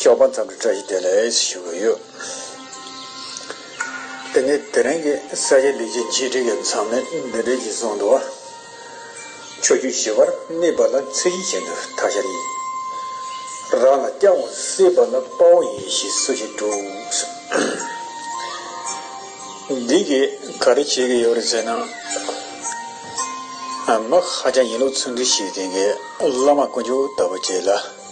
ཞོགས་པ་མཚམས་རེ་བཀྲ་ཤིས་བདེ་ལེགས་ཞུ་གི་ཡོད། དེ་ནས་དེ་རིང་གི་ས་ཡི་ལས་ཀྱི་མཇུག་འགྲིལ་གྱི་མཚམས་མེད་འདི་འབྲས་ཀྱི་གཟུངས་འདུ་བ། ཆོས་བརྒྱུད་ཞི་བར་དམིགས་པ་ལ་ཚིག་གཞི་བྱེད་འདུག་ཐ་ཤལ་ཡིན། རང་ལ་སྐྱབས་འོང་སྲིད་པ་ལ་དཔའ་བོ་ཡིན་ཞེས་སུ་ཞིག་དྲུགས། འདི་གིས་ག་རེ་བྱེད་ཀྱི་ཡོད་རེད་ཟེར་ན། མི་ཧ་ཅང་ཡིན་ལུགས་ཚུལ་འདི་ཞིག་དེ་གའི་བླ་མ་དཀོན་མཆོག་ལྟ་བུ་བྱས་ལ།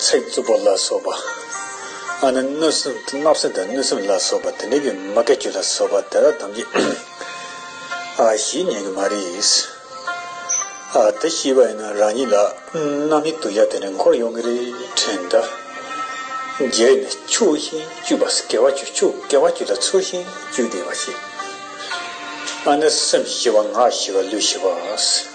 ཚིག་རྩུབ་པོ་ལ་སོགས་པ། གནོད་སེམས་བརྣབ་སེམས་དང་གནོད་སེམས་ལ་སོགས་པ་དེ་འདྲ་ཀྱི་མ་གལ་ཆོས་ལ་སོགས་པ་དེ་དག་ཐམས་ཅད་གཞི་ཉིད་ཀྱི་མ་རིགས། དེ་ཤེས་པ་ཡིན་ན་རང་ཉིད་ལ་རྣམ་དབྱེ་དུ་ཡབ་དེ་འདྲ་འཁོར་ཡོང་གི་རེད་དྲན་གདའ། རྒྱས་ནས་ཕྱོགས་བཞིན་སྤྱོད་པ་སྐལ་བ་ཆོས་ཕྱོགས་སྐལ་བ་ཆོས་ལ་ཚུལ་བཞིན་སྤྱོད་བདེ་བ་ཤེས། སེམས་ཞི་བ་ངག་ཞི་བ་ལུས་ཞི་བ།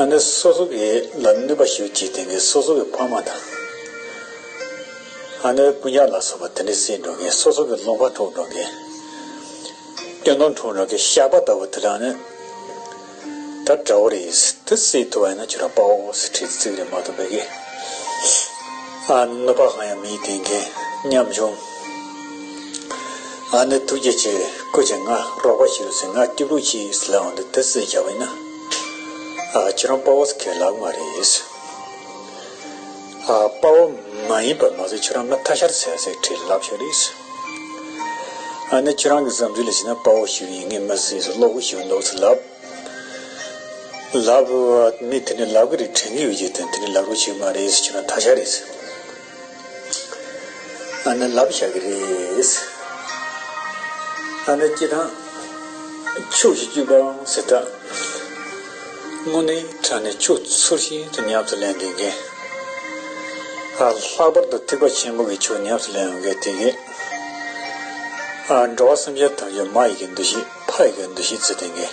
ཨ་ནི་སོ་སོ་གི་ལ་གནོད་པ་ཞུ་བྱེད་དེ་གའི་སོ་སོ་གི་ཕ་མ་དང། ཨ་ནི་སྤུན་ཆང་ལ་སོགས་པ་དེ་འདྲའི་སྲིད་འགྲོ་མཁན་སོ་སོ་གི་སློང་ཁ་འཕྲོག་འགྲོ་མཁན། སྐྱོན་འདོང་འཕྲོག་འགྲོ་མཁན་ཤ་པ་ལྟ་བུ་དེ་དག་ནི་ད་དགྲ་བོ་རེད་དེ་སྲིད་ཐུ་བ་ཡིན་ན་ཁྱོད་རང་པའོ་སི་ཁྲིད་ཚིག་རེ་མ་ཐུབ་པའི་གི་ཨ་ནི་གནོད་པ་གང་ཡང་མི་ཡི་དེ་མཁན་ཉམས་ཆུང། ཨ་ནི་ཐུགས་རྗེ་ཆེ་སྐུ་ཆེ་ང་རོགས་པ་ཞུ་ཟིག་ང་ཀྲི་པུའུ་ཆི་ཡིས་ལའོ་འདི་དི་སི་རྒྱ་བོད་ན་ཨ་ཁྱེད་རང་དཔའ་བོ་ཁེ་ལག་མ་རེད་ཨ་དཔའ་བོ་མ་ཡིན་པར་མ་ཟད་ཁྱོད་རང་ང་ཐ་ཤར་ཟེར་ཟེར་ཁྲིད་ལབ་ཤོག་རེད་ཨ་ནི་ཁྱོད་རང་གི་བསམ་ཚུལ་ལ་བྱས་ན་དཔའ་བོ་ཞིག་ཡིན་ངེས་མི་སྲིད་ཟེར་བློ་བུ་ཞིག་འདུག་ཟེར་ལབ་ལབ་མི་དེ་ནི་ལབ་གི་རེད་དྲན་གི་ཡོད་ཅེས་དོན་དེ་ནི་ལབ་རོགས་ཞིག་མ་རེད་ཁྱོད་རང་ཐ་ཤར་རེད། ཨ་ནེ་ལབ་བཞག་གི་རེད། ཨ་ནེ་སྐྱིད་དང་ཕྱུགས་ཤིག་སྐྱུག་པའང་ཟེར་དྲགས། དངོས་གནས་ཁྲག་ནི་ཕྱུགས་ཚུར་ཤིན་ཏུ་ཉམས་སུ་ལེན་དགོས་མཁན། ལྷག་པར་དུ་ཐིགས་པ་ཆེན་པོ་གི་ཕྱུགས་ཉམས་སུ་ལེན་འོས་མཁན་དེ་གས། འགྲོ་བ་སེམས་ཅན་ཐམས་ཅད་མ་ཡི་གེ་འདུ་ཤེས་ཕ་ཡི་གེ་འདུ་ཤེས་བརྩི་འདོད་མཁན།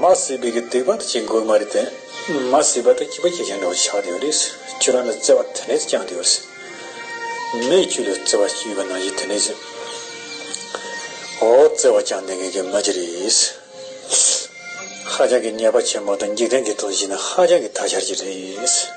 མ་སྲིད་པའི་གི་དུས་བབ་ཅིག་དགོས་མ་རེད་དེ། མ་སྲིད་པ་དང་སྐྱིད་པ་སྐྱིད་ཆེན་འདྲ་བོ་ཆགས་དུས་རེད། ཁྱོད་རང་ལ་བརྩེ་བ་དེ་འདྲས་བཅངས་དུས་རེད། མོས་ཁྱོད་ལ་བརྩེ་བ་ཞུས་པ་ན་གཞི་དེ་འདྲས། འོ་བརྩེ་བ་བཅངས་དེ་ངས་གི་མ་ཅི་རེད། ཧ་ཅང་གི་ཉེས་པ་ཆེན་པོ་དང་འཇིག་རྟེན་གི་ཐོག་གཞི་ནས་ཧ་ཅང་གི་ཐ་ཤར་ཅིག་རེད།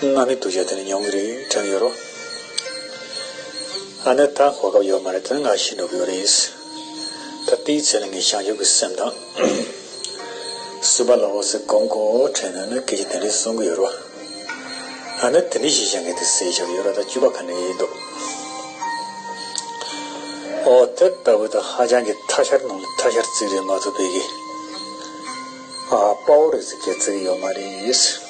སྔར་མེད་གདུལ་བྱ་དེ་ནི་མྱོང་གི་རེད་དྲན་ཡོད་རོ། ཨ་ནེ་ད་གོ་སྐབས་ཡོད་མ་རེད་དོན་ལ་ཤི་འགྲོ་གི་ཡོད་རེད། ད་དེའི་ཚེ་ལ་ངས་བྱང་ཆུབ་ཀྱི་སེམས་དང། བསྲུབ་པ་ལ་འོ་ཟེར་གོམས་གོ་དྲན་ན་ནི་སྐད་ཆ་དེ་འདྲས་གསུང་གི་ཡོད་རོ། ཨ་ནེ་དེ་འདྲས་ཞིག་བྱེད་མཁན་དེ་སའི་ཆ་ལ་ཡོད་རོ་ད་བཅུ་པ་ག་ནས་ཡིན་འདུག། ཨོ་དེ་ལྟ་བུ་དང་ཧ་ཅང་གི་ཐ་ཤར་ནང་ལ་ཐ་ཤར་ཙིག་རེད་མ་ཐུབ་པའི་གི། ཨ་པའོ་རེད་ཟེར་གི་ཙིག་ཡོད་མ་རེད།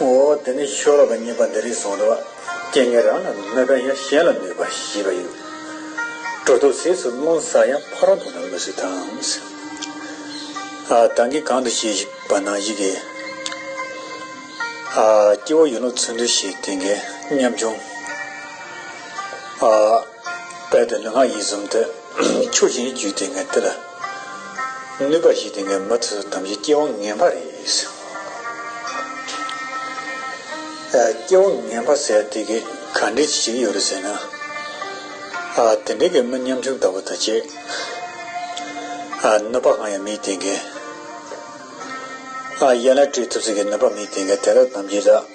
འོ་དེ་ནས་ཆོས་ལོག་གི་ཉེས་པ་འདི་རིགས་བཟུང་དུ་སྐྱེ་ངན་རང་ལ་མོས་པས་ཡང་གཞན་ལ་མོས་པ་བཞི་པ་ཡོད། དྲུག་ཏུ་ཟས་སུ་རླུང་བཟའ་ཡང་ཕ་རོལ་དུ་ན་མི་སྲིད་དམ། དང་གི་གང་དུ་སྐྱེ་ཞིག་པ་ན་ཡི་གེ། སྐྱེ་བོ་ཡིན་ལུགས་ཚུལ་འདུས་ཤིག་དེ་འགས་ཉམ་ཆུང། དཔལ་དུ་ནི་སྔགས་ཡིད་གསུམ་དུ། ཆོས་ཀྱི་རྒྱུད་དེ་ངས་འདི་ལ། ནུས་པ་བཞི་དེ་ངས་མུ་མཐུད་དམ་བཞི་སྐྱེ་བ་ངན་པ་རེ་ཟད། སྐྱེ་བ་ངན་པ་ཟད་དེ་གི་ག་འདྲི་ཅི་ཞིག་ཡོད་རེ་ཟེར་ན། དེ་འདྲི་གི་མི་ཉམ་ཆུང་ལྟ་བུ་དང་བཅས། ནུས་པ་གང་ཡང་མེད་དེ་ངས། ཡན་ལག་བཀྲུས་ཐུབ་ཟེར་གི་ནུས་པ་མེད་དེ་ངས་དེ་དག་དམ་བཞི་ལ།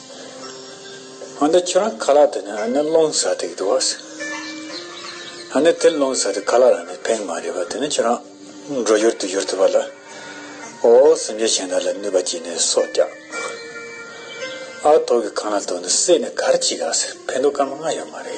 ཨ་ནེ་ཁྱོད་རང་ཁ་ལག་དེ་ནས་ཨ་ནེ་སློང་ཟ་ཐིག་འདུག་ཨ་སི། ཨ་ནེ་དེ་སློང་ཟ་ཐིག་ཁ་ལག་ལ་ནི་ཕན་མ་རེད་པ་དེ་ནས་ཁྱོད་རང་འགྲོ་ཡུར་དུ་ཡུར་ཐུབ་པ་ལ་ཨོ་སེམས་ཅན་གཞན་དག་ལ་ནུས་པ་སྐྱེས་ནས་སྲོག་བསྐྱབས། ཨ་ཐོག་གི་ཁང་ལ་དོ་ནི་སྲེད་ནས་གར་གཅིག་ཨ་སི་ཕན་ཐོག་སྐར་མ་ལྔ་ཡོད་མ་རེད།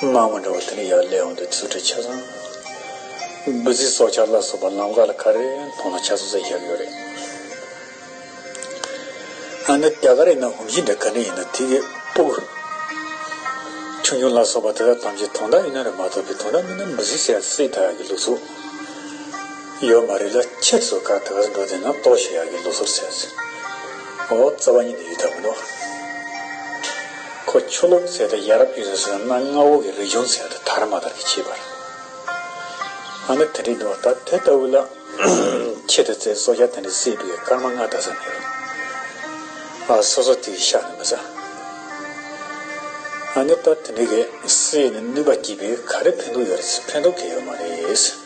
སྣང་བ་འདྲ་བ་དེ་ནི་ཡར་ལས་འོངས་ཏེ་ཚུལ་ཁྲིམས་ཆ་ཚང། འབུལ་རྩིས་སྲོག་ཆགས་ལ་སོགས་པ་ལམ་ཁ་ལ་ག་རེ་མཐོང་ན་ཆ་ཚང་བསྲེགས་བཞག་ཡོད་རེད། ཨ་ནི་རྒྱ་གར་ཡིན་ན་ཧུམ་ཤིང་འདྲ་ག་འདྲ་ཡིན་ན་དེ་གི་སྤུ་གུ། ཆུང་ཆུང་ལ་སོགས་པ་དེ་དག་ཐམས་ཅད་དོང་དག་ཡུལ་ན་རེད་མ་གཏོགས་པའི་དོང་དག་མིན་ན་འབུལ་རྩིས་བསྲེགས་བསྲེགས་དག་གི་ལུགས་ཚུགས། ཡོད་མ་རེད་ལ་ཁྱེད་ཚོ་ག་དག་འགྲོ་དེ་ན་ལྟོ་ཞེ་ཡག་གི་ལོ་སོར་ཚད་ཟོ་འོ་རྩ་བ་ཉིད་དུ་ཡོད་ཐབས་མི་འདུག་ཁོ་ཆོ་ལོ་ཚད་དེ་ཡ་རབས་ཀྱི་རིགས་སོ་ན་རྔ་བོ་གི་རིགས་ཆུང་ཚད་དེ་དར་མ་དར་གི་ཁྱི་པར་ང་ནི་དེ་འདྲའི་འདུག་ད་དེ་ལྟ་བུ་ལ་ཁྱེད་ཚོ་ཚད་སོ་རྒྱ་དེ་འདྲའི་སྲིད་པའི་སྐར་མ་རྔ་བལྟ་ས་མི་རུང་ཨ་སོ་སོ་དེའི་ཤ་ནི་མི་ཟ་ང་ནི་ད་དེ་འདྲའི་གི་སྲིད་ནི་ནུས་པ་སྐྱིད་པའི་ག་རེ་ཕན་འདུག་ཡོད་རེད་ཕན་འདུག་གི་ཡོད་མ་རེད།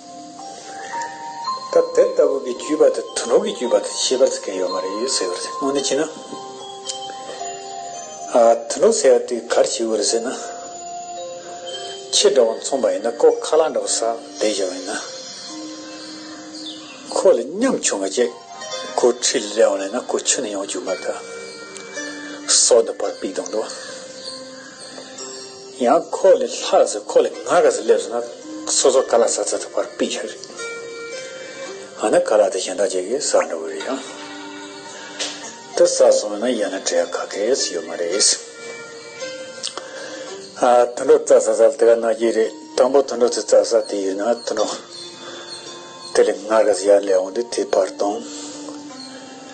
སྐབས་དེ་ལྟ་བུ་གི་བརྒྱུད་པ་དང་དུ་ལོག་གི་བརྒྱུད་པ་དང་ཤེས་པར་ཚིག་གི་ཡོད་མ་རེད་ཡོད་ཟེར་བར་དངོས་གནས་ཅིས་ན། དུ་ལོག་ཟེར་བ་དེ་གར་བྱེད་དགོས་རེད་ཟེར་ན། ཁྱེད་འདྲ་བ་མཚུངས་པ་ཡིན་ན་ཀོ་ཁ་ལག་འདྲ་བ་སར་བསྡད་བཞག་པ་ཡིན་ན། ཁོ་ལ་ཉམས་ཆུང་བ་ཅིག་ཁོ་ཁྲི་ལ་སླེབས་ཡོང་ན་ཁོ་ཆུ་ནས་ཡོང་བཅུག་མ་གཏོགས། སྲོག་འདི་བར་པིག་དང་འདུག། ཡང་ཁོ་ལ་ལྷག་ཟེར་ཁོ་ལ་ང་ག་ཟེར་སླེབས་སོང་ན་སོ་སོ་ག་ལ་ཟ་ཟ་ཐུབ་པར་དཔེ་ཆ་རེད། ང་ནི་ག་ལ་དེ་གཞན་དག་ཅིག་གིས་ཟ་འདྲ་བོ་རེད་ཡང། དེ་ཟ་སོང་བས་ན་ཡང་ན་བྲེལ་ག་གེས་ཡོད་མ་རེད། ཨ། དུད་འགྲོ་རྩྭ་ཟ་ས་ལ་དེ་ག་ན་གྱི་རེད་དང་པོ་དུད་འགྲོ་དེ་རྩྭ་ཟ་དེ་ཡོད་ན་དུད་འགྲོ་དེ་ལ་ང་ག་ཟེར་ཡར་སླེབས་འོང་དུས་དེ་བར་དང།